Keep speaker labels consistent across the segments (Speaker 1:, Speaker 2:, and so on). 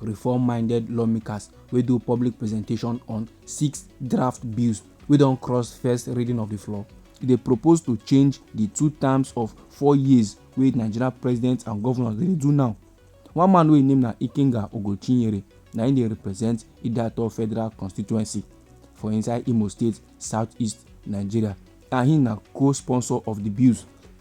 Speaker 1: Reform-minded lawmakers wey do public presentation on six draft bills wey don cross first reading of di floor. E dey propose to change di two terms of four years wey Nigeria presidents and governors dey do now. One man wey im name na Ikenga Ogochinyere na im dey represent Idato Federal Constituency for inside Imo State, South-East Nigeria and im na co-sponsor of di bills.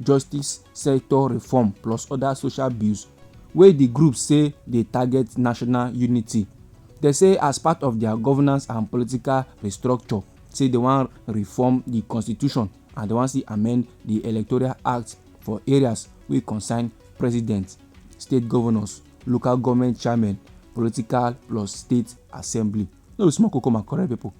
Speaker 1: justice sector reform plus other social bills wey di group say dey target national unity. Dem say as part of their governance and political restructure say dem wan reform di constitution and dem wan still amend di electoral act for areas wey concern president, state governors, local government chairmen, political plus state assembly. No be small koko my correct pipo.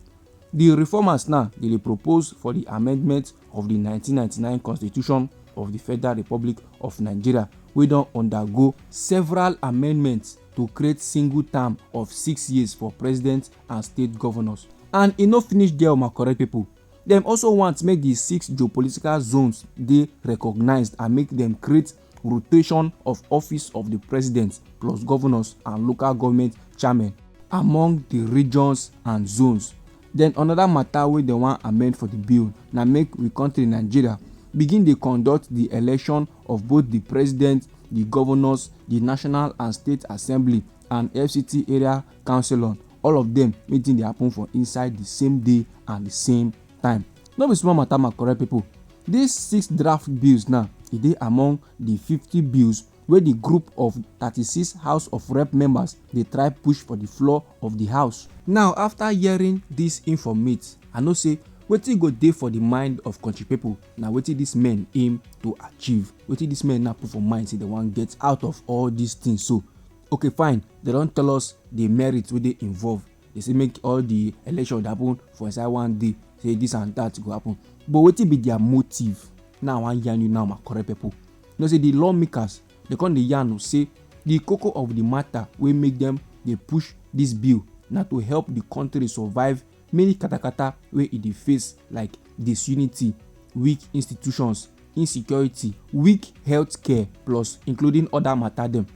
Speaker 1: Di reformers now dey dey propose for di amendment of di 1999 Constitution of di Federal Republic of Nigeria wey don undergo several amendments to create single term of six years for president and state governors. And e no finish there my correct people. Dem also want make di six geopolitical zones dey recognised and make dem create rotation of office of di president plus govnors and local goment chairmen among di regions and zones. Den anoda mata wey dem wan amend for di bill na make we kontri Nigeria begin dey conduct di election of both di president, di govnors, di national and state assembly and FCT area councillor all of dem make di tin dey happun for inside di same day and di same. time. No be small matter my correct people. These six draft bills now, e dey among the fifty bills wey the group of thirty-six House of Rep members dey try push for the floor of the house. Now after hearing this informate, I know say wetin go dey for the mind of country people na wetin these men aim to achieve, wetin these men now put for mind say they wan get out of all these things so. Okay fine, they don tell us the merits wey dey involved. dey say make all the election happen for inside one day say this and that go happen but wetin be their motive now i wan yarn you now my correct people you know say the lawmakers dey come dey yarn say the koko of the matter wey make them dey push this bill na to help the country survive many katakata wey e dey face like disunity, weak institutions, insecurity, weak health care plus including other matter dem.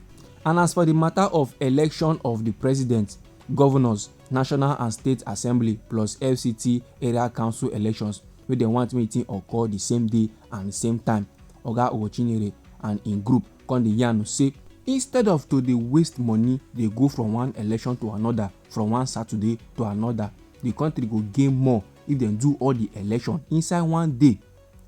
Speaker 1: And as for the matter of election of the president, governors, national and state assembly plus FCT area council elections wey dem want make e occur the same day and the same time, Oga Owochinyere and im group come dey yarn say instead of to dey waste money dey go from one election to another, from one Saturday to another, the country go gain more if dem do all the election inside one day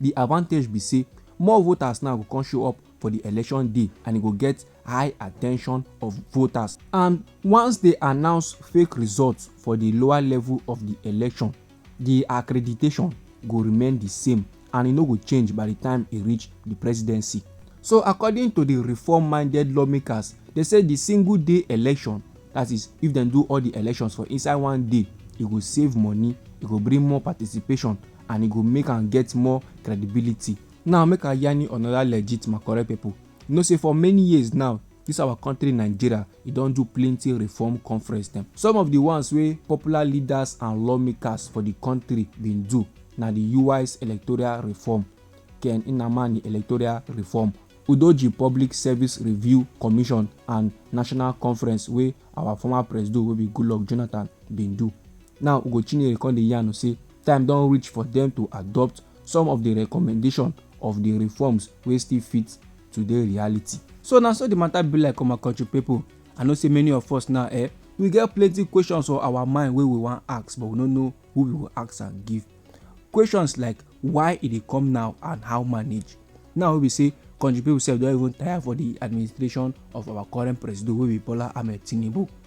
Speaker 1: the advantage be say more voters now go come show up for the election day and e go get high attention of voters and once they announce fake results for the lower level of the election the accreditation go remain the same and e no go change by di time e reach di presidency. So according to di reform-minded lawmakers, dem say di single day election, dat is, if dem do all di elections for inside one day, e go save money, e go bring more participation and e go make am get more credibility. Now make I yarn you another legit Makurdi people, you know say for many years now, Dis our country Nigeria, e don do plenty reform conference dem. Some of di ones wey popular leaders and lawmakers for di country bin do na di Uwais Electoral Reform, Ken Nnamani Electoral Reform, Udoji Public Service Review Commission and National Conference wey our former presido wey be Goodluck Jonathan bin do. Now Ugo Chinyere come dey yarn say time don reach for dem to adopt some of di recommendation of di reforms wey still fit today reality. So na so the matter be like on my country people. I know say many of us now eh, we get plenty questions for our mind wey we wan ask but we no know who we go ask am give. Questions like why e dey come now and how manage. Now wey be say country people sef don even tire for the administration of our current presido wey be Bola Ahmed Tinubu.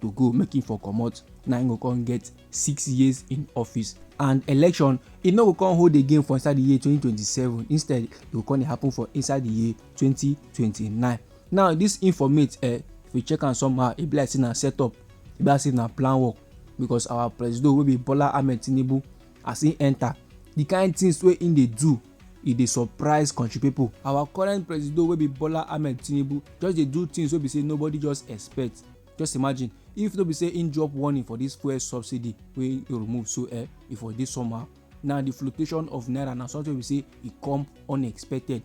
Speaker 1: to go make him for comot na him go come get six years in office and election e no go come hold again for inside the year 2027 instead e go come dey happen for inside the year 2029 now this informate eh if we check am somehow e be like say na set up e be like say na plan work because our presido wey be bola ahmed tinubu as he enter the kind things wey he dey do e dey surprise country people. our current presido wey be bola ahmed tinubu just dey do things wey be say nobody just expect just imagine if no be say im drop warning for this fuel subsidy wey e remove so eh e for dey somehow now the fluctuation of naira na something we say e come unexpected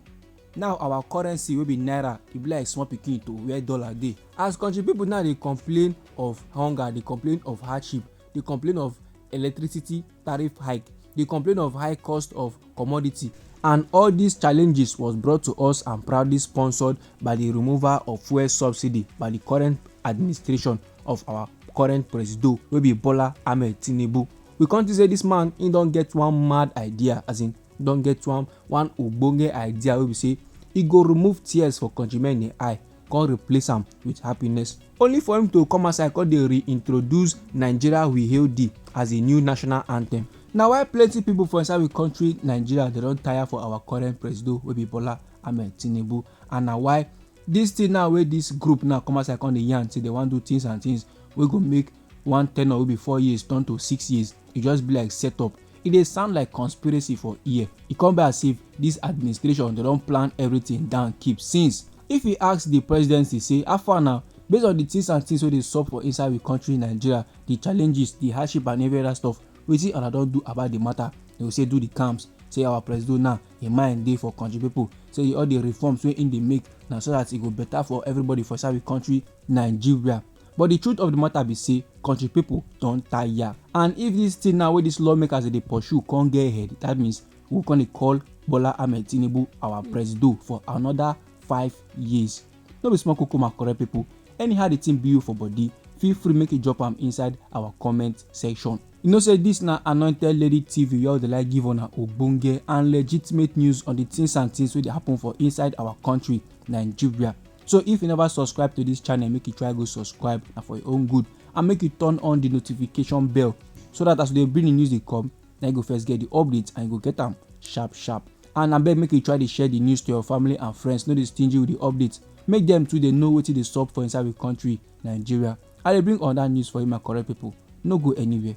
Speaker 1: now our currency wey be naira e be like small pikin to where dollar dey as country people now dey complain of hunger dey complain of hardship dey complain of electricity tariff hike, dey complain of high cost of commodity and all these challenges was brought to us and proudly sponsored by the removal of fuel subsidy by the current administration of our current presido wey be Bola Ahmed Tinubu. We come think say this man he don get one mad idea as in don get one one ogbonge idea wey be say e go remove tears for countrymen eye come replace am with happiness only for him to come outside come dey reintroduce nigeria we hail thee as a new national anthem na why plenty people for inside we country nigeria dey don tire for our current presido wey be bola ahmed tinubu and na why this thing now wey this group now come outside come dey yarn say they wan do things and things wey go make one tenure wey be four years turn to six years e just be like set up e dey sound like conspiracy for ear e come be as if dis administration dey don plan everything down keep since if you ask di presidency say how far now based on di things and things wey dey sup for inside we country nigeria di challenges di hardship and every other stuff wetin una don do about di matter dem go say do di camps say our presido now im mind dey for country pipo say all di reforms wey im dey make na so dat e go better for everybody for inside we country nigeria But the truth of the matter be say country people don tire and if this thing now wey these lawmakers dey pursue come get head that means we come dey call Bola Ahmed Tinubu our presido for another five years. No be small koko my correct people anyhow the thing be you for body feel free make you drop am inside our comment section. You know say this na anointed lady TV wey all dey like give una ogbonge and legitimate news on the things and things wey dey happen for inside our country Nigeria. so if you never subscribe to this channel make you try go subscribe na for your own good and make you turn on the notification bell so that as we dey bring the news dey come na you go first get the updates and you go get am sharp sharp and abeg make you try dey share the news to your family and friends no dey stingy with the updates make dem too dey know wetin dey sup for inside we country nigeria i dey bring another news for you my correct people no go anywhere.